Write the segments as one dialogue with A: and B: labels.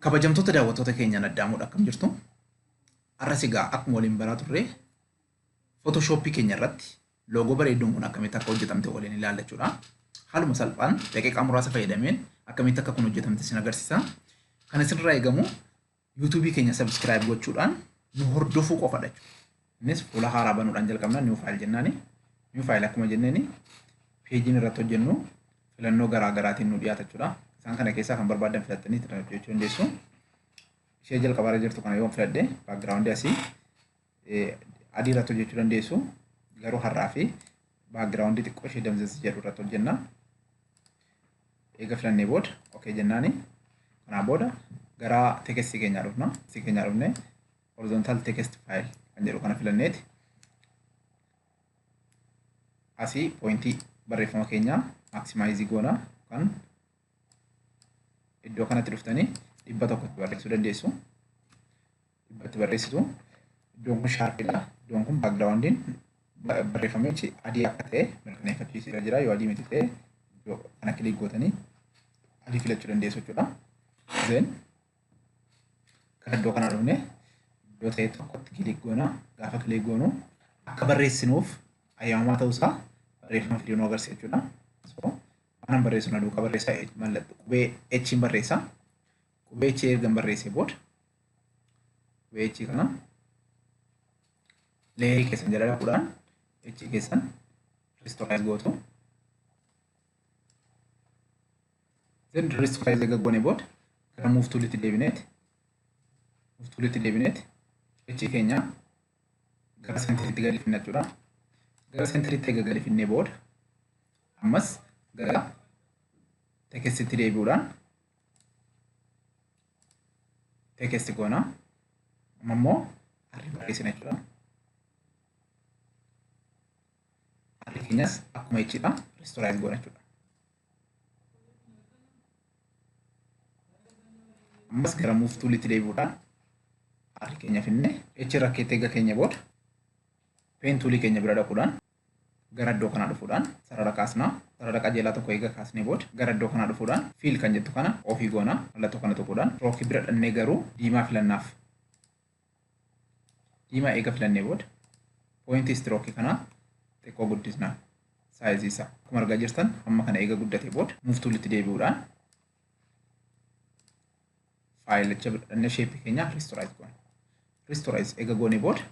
A: Kabajamtoota daawwattoota keenyaan addaamuudha akkam jirtu? Har'as egaa akkuma waliin baraa turre Photoshop keenya irratti loogoo bareedduun kun akkamitti akka hojjetamte waliin ilaalla jechuudha. Haaluma salphaan daqiiqaa muraasa fayyadameen akkamitti akka kun hojjetamte isin agarsiisa. Kan isinirraa eegamu YouTube keenya subscribe gochuudhaan nu hordofuu qofadha jechuudha. Innis fuula haaraa banuudhaan jalqabna new file jennaani. New file akkuma jenneeni peejiin irratti hojjennu filannoo garaa garaatiin nu dhiyaata jechuudha. Isaan kana keessaa kan barbaadan filattanii itti hojjechuu dandeessu. Ishee jalqaba irra jirtu kana yoon filadhe baakgiraawundii asii adii irratti hojjechuu dandeessu. Garuu har'aa fi baakgiraawundii xiqqoo ishee damzazii jedhu irratti hojjenna. Eega filannee booda ok jennaani. Kanaa booda gara tekestii keenyaa dhufna. Tekestii keenyaa dhufnee horizontal text file kan jedhu kana filanneeti asii poointii barreeffama keenyaa maaksimaayizii goona kan iddoo kanatti dhuftanii dhibba tokkotti barreessuu dandeessu dhibbatti barreessitu iddoon kun shaarfiidha iddoon kun baakgiraawundiin barreeffamichi adii akka ta'e mirkaneeffachiisee jira yoo adii miti ta'e iddoo kana kilik gootanii adii filachuu dandeessu jechuudha. Zeen Kan iddoo kanaa dhufne iddoo ta'e tokkotti kiliik goona. Gaafa kiliik goonu akka barreessinuuf ayyamamaa ta'uusaa barreeffama fidee nu agarsiisa jechuudha. So, waanan barreessu na duukaa barreessaa mallattoo qubee H'n barreessaa. Qubee H ergan barreessee booda qubee H kana leerii keessan jala dhaquudhaan H keessan ristooraayiz gootu. Then rest file eega goone booda gara move toolitti deebineeti move toolitti deebineeti qeechii keenya gara seentiritti gadi finna jechuudha. Gara seentiritti eega gadi finnee booda ammas gara tekestitti deebi'uudhaan tekesti goona. Amma immoo harri barreessina jechuudha. Harri keenyas akkuma ichidha. Ristoraayis goona jechuudha. ammas gara move toolitti deebi'uudhaan r keenya finne h irra keetti eega keenya booda peen toolii keenya bira dhaquudhaan gara iddoo kanaa dhufuudhaan sarara kaasna sarara qajeelaa tokko eega kaasnee booda gara iddoo kanaa dhufuudhaan fiil kan jettu kana ofii goona mallattoo kana tuquudhaan rookii bira dhannee garuu diimaa filannaaf diimaa eega filannee booda pooyintii istirooki kanaa xiqqoo guddisna saayizii isaa akkuma argaa jirtan hamma kana eega guddate booda muuftuulitti deebi'uudhaan faayilicha bidhannee sheepii keenya riistoraayiz goona. Riistoraayiz eega goone booda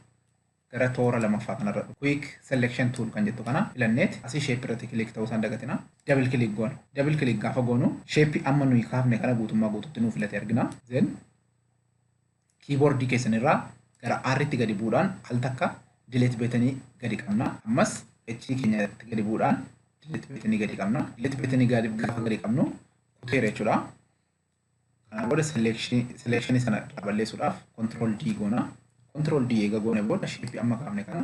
A: gara toora lamaffaa kanarra quick selection tool kan jettu kana filanneeti asii sheepii irratti kiliik ta'uu isaan dagatina double kiliik goona. Double kiliik gaafa goonu sheepii amma nuyi kaafne kana guutummaa guututti nuu filate argina. Then Kiiboordii keessan irraa gara R tti gadi bu'uudhaan al takka delete betanii gadi qabna. Ammas H keenya irratti gadi bu'uudhaan delete betanii gadi qabna. Delete betanii gaafa gadi qabnu kuteera jechuudha. Kana booda selection sana irraa balleessuudhaaf control D goona. Control D eega goone booda shape amma kaafne kana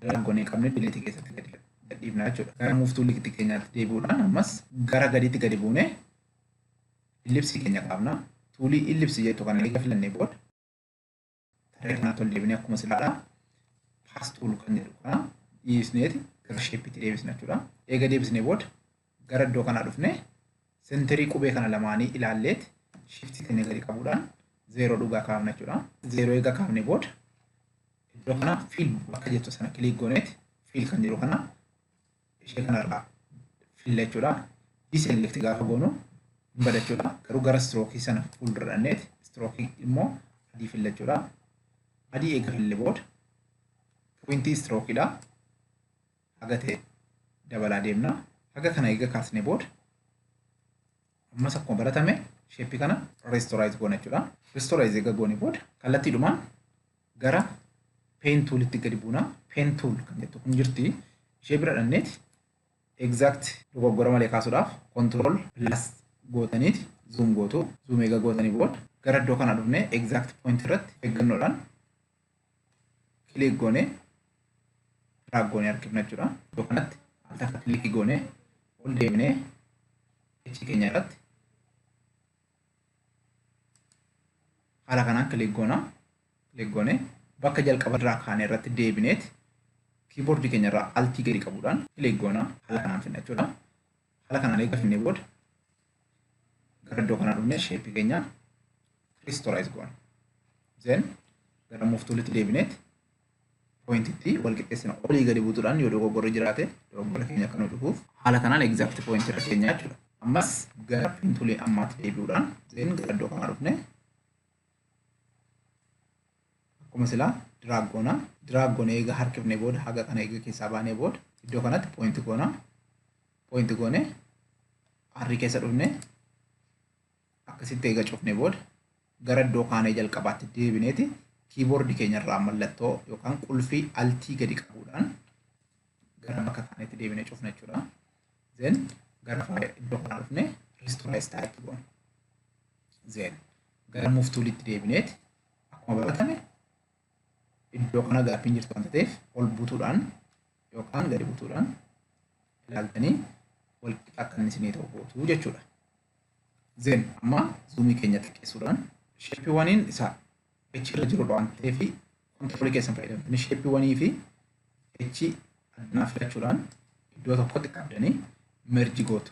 A: Galaan gonee qabnee dileetii keessatti gadi gadhiifna jechuudha. Gara muuftuu likitti keenyaatti deebi'uudhaan ammas gara gadiitti gadi buunee illipsii keenya kaafna. Tuulii illipsii jettu kana eega filannee booda tarree kanaatti ol deebinee akkuma silaadha. Paas tuul kan jedhu kana dhiisneeti gara sheeppiitti deebisna jechuudha. Eega deebisnee booda gara iddoo kanaa dhufne sentirii qubee kana lamaanii ilaalleet shiftii keenya gadi qabuudhaan zeeroo dhugaa kaafna jechuudha. Zeeroo eega kaafne booda iddoo kana fiil bakka jettu sana kiliik gooneet fiil kan jedhu kana ishee kanarraa filla jechuudha. Diselekti gaafa goonu hin bada jechuudha. Garuu gara istirookii sana fuuldura dhanneet istirookii immoo adii filla jechuudha. Adii eega fille booda pointii istirookiidha. haga ta'e dabalaa deemna. Haga kana eega kaasnee booda ammas akkuma baratame sheeppii kana reestoraayiz goona jechuudha. Reestoraayiz eega goone booda kallattiidhumaan gara peen tuulitti gadi buuna. Peen tuul kan jettu kun jirti. Ishee bira dhanneeti exact dogoggora malee kaasuudhaaf control plus gootaniiti zoom gootu. Zoom eega gootanii booda gara iddoo kana dhufnee exact point irratti eeggannoodhaan kilik goone drag goone harkifna jechuudha. Iddoo kanatti al takka kilik goone ol deemnee icci keenya irratti haala kanaan kilik goona kilik goone bakka jalqaba irraa kaane irratti deebineet kiiboordii keenya irraa altii gadi qabuudhaan kilik goona haala kanaan fidna jechuudha. Haala kanaan eega finnee booda gara iddoo kanaa dhufnee sheeppii keenya kiristolaayiz goona. Zeen gara muuftuulitti deebineet pooyintitti wal qixxeessina. Olii gadi buutuudhaan yoo dogoggorri jiraate dogoggora keenya akka nu cufuuf haala kanaan egzaakti pooyintii irra keenya jechuudha. Ammas gara pintuulii ammaatti deebi'uudhaan zeen gara iddoo kanaa dhufnee akkuma silaa diraag goona diraag goone eega harkifne booda haga kana eega keessaa baanee booda iddoo kanatti poointi goona poointi goone harri keessa dhufne akkasitti eega cufne booda gara iddoo kaanee jalqabaatti deebineeti kiiboordi keenyarraa mallattoo yookaan qulfii altii gadi qabuudhaan gara bakka kaaneetti deebinee cufna jechuudha. Zeen gara iddoo kanaa dhufne ristoraayis taa'etti goona. Zeen gara move toolitti deebineeti akkuma baratame iddoo kana gaaffiin jirtu wanta ta'eef ol butuudhaan yookaan gadi butuudhaan ilaaltanii wal qixa akka inni isinii ta'u gootu jechuudha. Zeen amma zuumii keenya xiqqeessuudhaan sheeppiiwwaniin isa echi irra jirudha waan ta'eef kontiroolii keessan fayyadamtanii sheeppiiwwanii fi echi addanaa filachuudhaan iddoo tokkotti qabdanii merji gootu.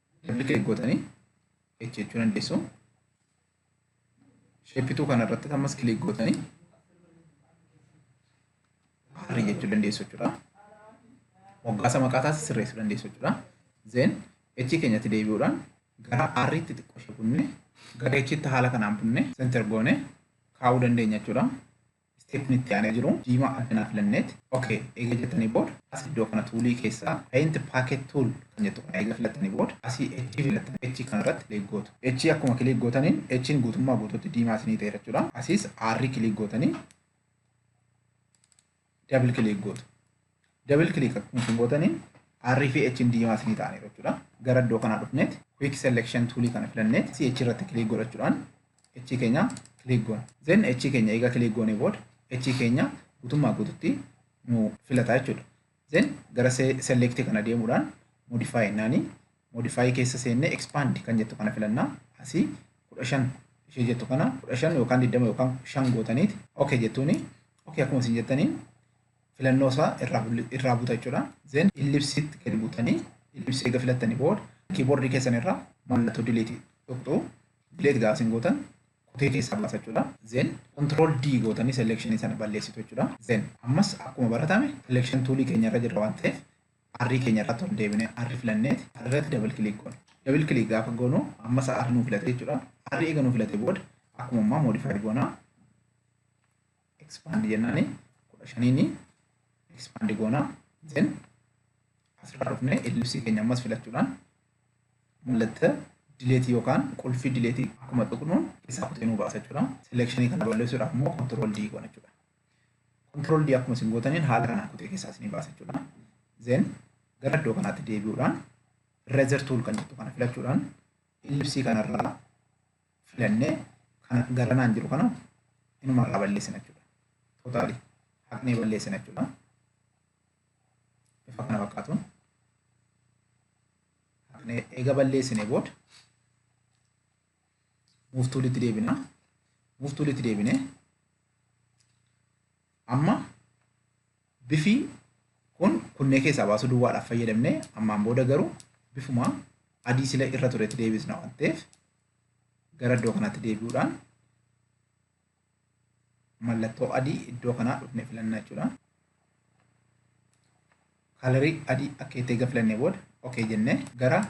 A: Dabli klik gootanii H jechuu dandeessu. Sheeppituu kana irratti ammas klik gootanii R jechuu dandeessu jechuudha. Moggaasa maqaa taasisa sirreessuu dandeessu jechuudha. Zeen H keenyatti deebi'uudhaan gara R tti xiqqoo ishee bunne gara H tti haala kanaan bunne senter goone kaa'uu dandeenya jechuudha. Step itti aanee jiru diimaa addanaa filanneet ok eega jettanii booda as iddoo kana tuulii keessaa paint packet tool kan jettu kana eega filattanii booda asii H filattan H kana irratti click gootu H akkuma click gootaniin H'n guutummaa guutuutti diimaa isinii ta'eera jechuudha asiis R click gootanii double click gootu. Double click akkuma isin gootaniin R fi H diimaa isinii ta'aniiru jechuudha. Gara iddoo kanaa dhufneet quick selection tool kana filanneet CH irratti click godhachuudhaan H keenya click goona. Then H keenya eega click goonee booda H keenya guutummaa guututti nu filata jechuudha. Then gara select kana deemuudhaan modify jennaani modify keessa seennee expand kan jettu kana filannaa asii kudha shan ishee jettu kana kudha shan yookaan digdama yookaan shan gootaniiti okay jettuuni okay akkuma isin jettaniin filannoo isaa irraa bulli- irraa buta jechuudha. Zeen illipsiitti gadi butanii illipsii eega filattanii booda kiiboordii keessan irraa mallattoo dileetii tuqxu dileet gaafa isin gootan kutee keessaa baasa jechuudha. Zeen control D gootanii seleekshinii sana balleessitu jechuudha. Zeen ammas akkuma baratame seleekshin tuulii keenya irra jirra waan ta'eef arrii keenya irratti ol deebinee arri filanneeti arri irratti dabal kiliik goona. Dabal kiliik gaafa goonu ammas arri nu filate jechuudha. Arri eega nu filate booda akkuma ammaa moodifaayi goona. expand jennaani kudha shaniini expand goona then asirraa dhufnee ellipsii keenya ammas filachuudhaan mallattoo dileetii yookaan qulfii dileetii akkuma tuqnuun keessaa kutee nu baasa jechuudha. Selekshinii kana balleessuudhaaf immoo kontirool D goona jechuudha. Kontirool D akkuma isin gootaniin haala kanaan kutee keessaa isin baasa jechuudha. Zeen gara iddoo kanaatti deebi'uudhaan rezer tuul kan jettu kana filachuudhaan ellipsii kanarraa filannee kana garanaan jiru kana inuma irraa balleessina jechuudha. Tootaalii haqnee balleessina jechuudha. Bifa kana fakkaatuun haqnee eega balleessine booda muuftuulitti deebina. Muuftuulitti deebinee amma Bifi kun kunnee keessaa baasuu duwwaadhaaf fayyadamne ammaan booda garuu bifuma adii sila irra turetti deebisna waan ta'eef gara iddoo kanaatti deebi'uudhaan mallattoo adii iddoo kanaa dhufne filanna jechuudha. Kalarii adii akka itti eega filannee booda okee jennee gara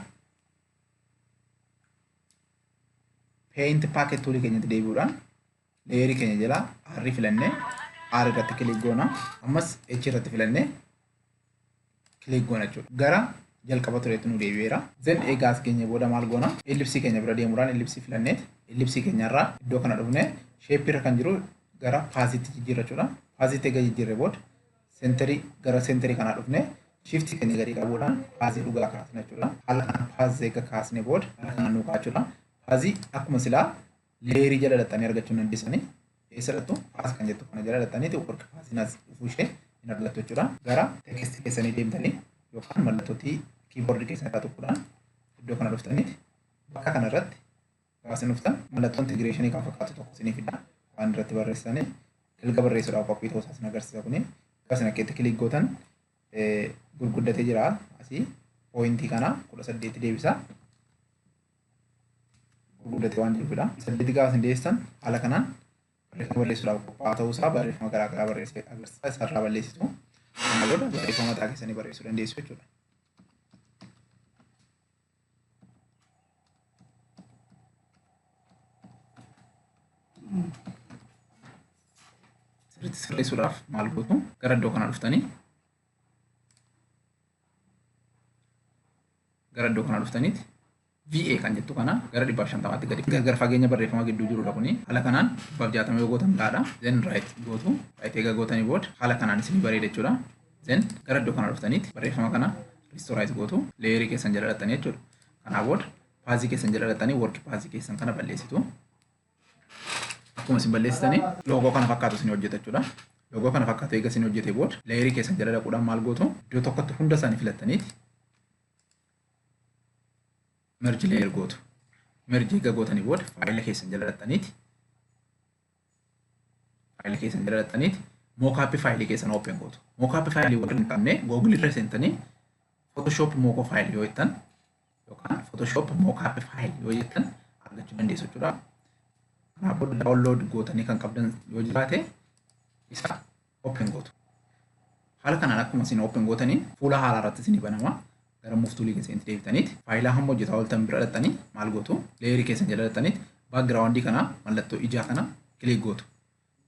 A: paint packet toolii keenyatti deebi'uudhaan leeyerii keenya jala R filannee R irratti kilik goona. Ammas H irratti filannee kilik goona jechuudha. Gara jalqaba tureetti nu deebi'eera. Zen egaa as geenye booda maal goona? Ellipsii keenya bira deemuudhaan ellipsii filanneet ellipsii keenyarraa iddoo kana dhufne sheeppii irra kan jiru gara paaziitti jijjiirra jechuudha. Paaziitti egaa jijjiirre booda seenterii gara seenterii kanaa dhufne shiftii keenya gadi qabuudhaan paazii dhugaa kaasna jechuudha. Haala kanaan paazii egaa kaasne booda haala kanaan nu kaachuudha. Paazii akkuma silaa leerii jala dhaxxanii argachuu hin dandisanii keessa dhattu paas kan jettu kana jala dhaxxaniiti work paasinas dhufuu ishee hin argattu jechuudha gara teekistii keessanii deemtanii yookaan mallattootii kiiboordii keessan irraa tuquudhaan iddoo kana dhuftaniiti bakka kana irratti gaafsin dhuftan mallattoo intigireeshinii kan fakkaatu tokko isinii fida waan irratti barreessanii dalga barreessuudhaaf qophii ta'uu isaa isin agarsiisa kuni gaafsin akkeetti kiliik gootan gurguddatee jira asii pooyintii kana kudha saddeetti deebisa gurguddate waan jechuudha. Saddeeti gaafa isin deessan haala kanaan barreeffama barreessuudhaaf qophaa'aa ta'uusaa barreeffama garaa garaa barreessee agarsiisa isarraa balleessitu. Kana booda barreeffama mataa keessanii barreessuu dandeessu jechuudha. Sirriitti sirreessuudhaaf maal gootu gara iddoo kanaa dhuftanii gara iddoo kanaa dhuftaniiti VA kan jettu kana gara dhibbaaf shantamaatti gadi gargar fageenya barreeffama gidduu jirudha kuni haala kanaan dhibbaaf jaatama yoo gootan gaadha then right gootu right egaa gootanii booda haala kanaan isin bareeda jechuudha then gara iddoo kanaa dhuftaniiti barreeffama kana ristoraayit gootu leeyerii keessan jala dhaxxanii jechuudha kanaa booda paazii keessan jala dhaxxanii worki paazii keessan kana balleessitu Akkuma isin balleessitanii loogoo kana fakkaatu isin hojjeta jechuudha. Loogoo kana fakkaatu eega isin hojjetee booda leeyirii keessan jala dhaquudhaan maal gootu iddoo tokkotti hunda isaanii filattaniiti merji leeyir gootu. Merji eega gootanii booda faayila keessan jala dhaqxaniiti faayila keessan jala dhaqxaniiti mookaappii faayilii keessan oopeen gootu. Mookaappii faayilii warri hin qabne googilii irra seentanii Photoshop mookoo faayilii yoo jettan yookaan Photoshop mockup file yoo jettan argachuu dandeessu jechuudha. Kanaaf booda download gootanii kan qabdan yoo jiraate isa open gootu. Haala kanaan akkuma isin open gootaniin fuula haaraa irratti isin banama. Gara muftuulii keessanitti deebitaniiti. Faayilaa hamma hojjetaa ooltan bira dhaxxanii maal gootu? Leeyerii keessan jala dhaxxaniiti background kana mallattoo ijaa kana kilik gootu.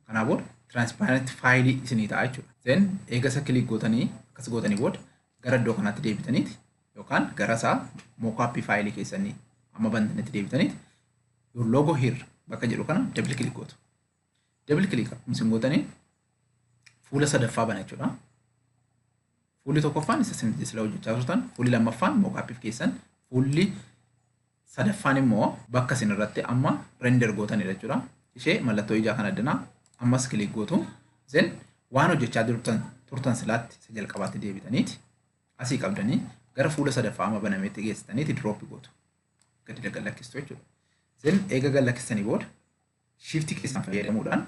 A: Kanaa booda transparent file isinii ta'a jechuudha. Then eegasa click gootanii akkas gootanii booda gara iddoo kanaatti deebitaniiti yookaan gara isaa mockup file keessanii amma bantanitti deebitaniiti your logo here bakka jedhu kana double click gootu. Double click akkuma isin gootanii fuula sadaffaa bana jechuudha. Fuulli tokkoffaan isa isin sila hojjechaa turtan, fuulli lammaffaan mockup keessan, fuulli Sadaffaan immoo bakka isin irratti amma render gootanidha jechuudha. Ishee mallattoo ijaa kana addanaa ammas click gootu. Zen waan hojjechaa turtan turtan silaatti isa jalqabaatti deebitaniiti asii qabdanii gara fuula sadaffaa amma banameetti geessitaniiti drop gootu. Gadi gad lakkistu jechuudha. Zen eega gad lakkistanii booda shiiftii keessan fayyadamuudhaan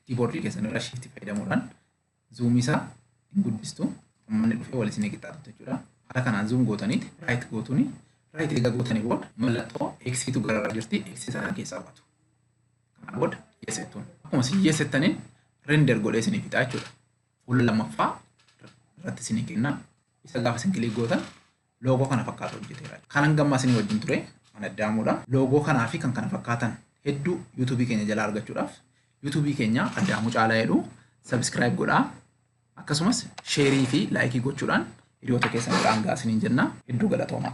A: kiiboordii keessan irra shiiftii fayyadamuudhaan zoom isaa hin guddistu ummanni dhufee wal isin qixxaatutti jechuudha haala kanaan zoom gootaniiti right gootuni right egaa gootanii booda mallattoo eksiitu gararraa jirti eksii sana keessaa baatu kana booda yes jettuun akkuma isin yes jettaniin render godhee isinii fixaa jechuudha fuula lammaffaa irratti isinii kennaa isa gaafa isin kilik gootan loogoo kana fakkaatu hojjeteera. Kan hanga ammaa isinii wajjin ture mana addaamuudha. Loogoo kanaa fi kan kana fakkaatan hedduu yuutuubii keenya jalaa argachuudhaaf yuutuubii keenya addaamuu caalaa jedhu sabiskiraayib godhaa. Akkasumas sheerii fi laayikii gochuudhaan hiriyoota keessan biraan gahaa isiniin jenna. Hedduu galatoomaa.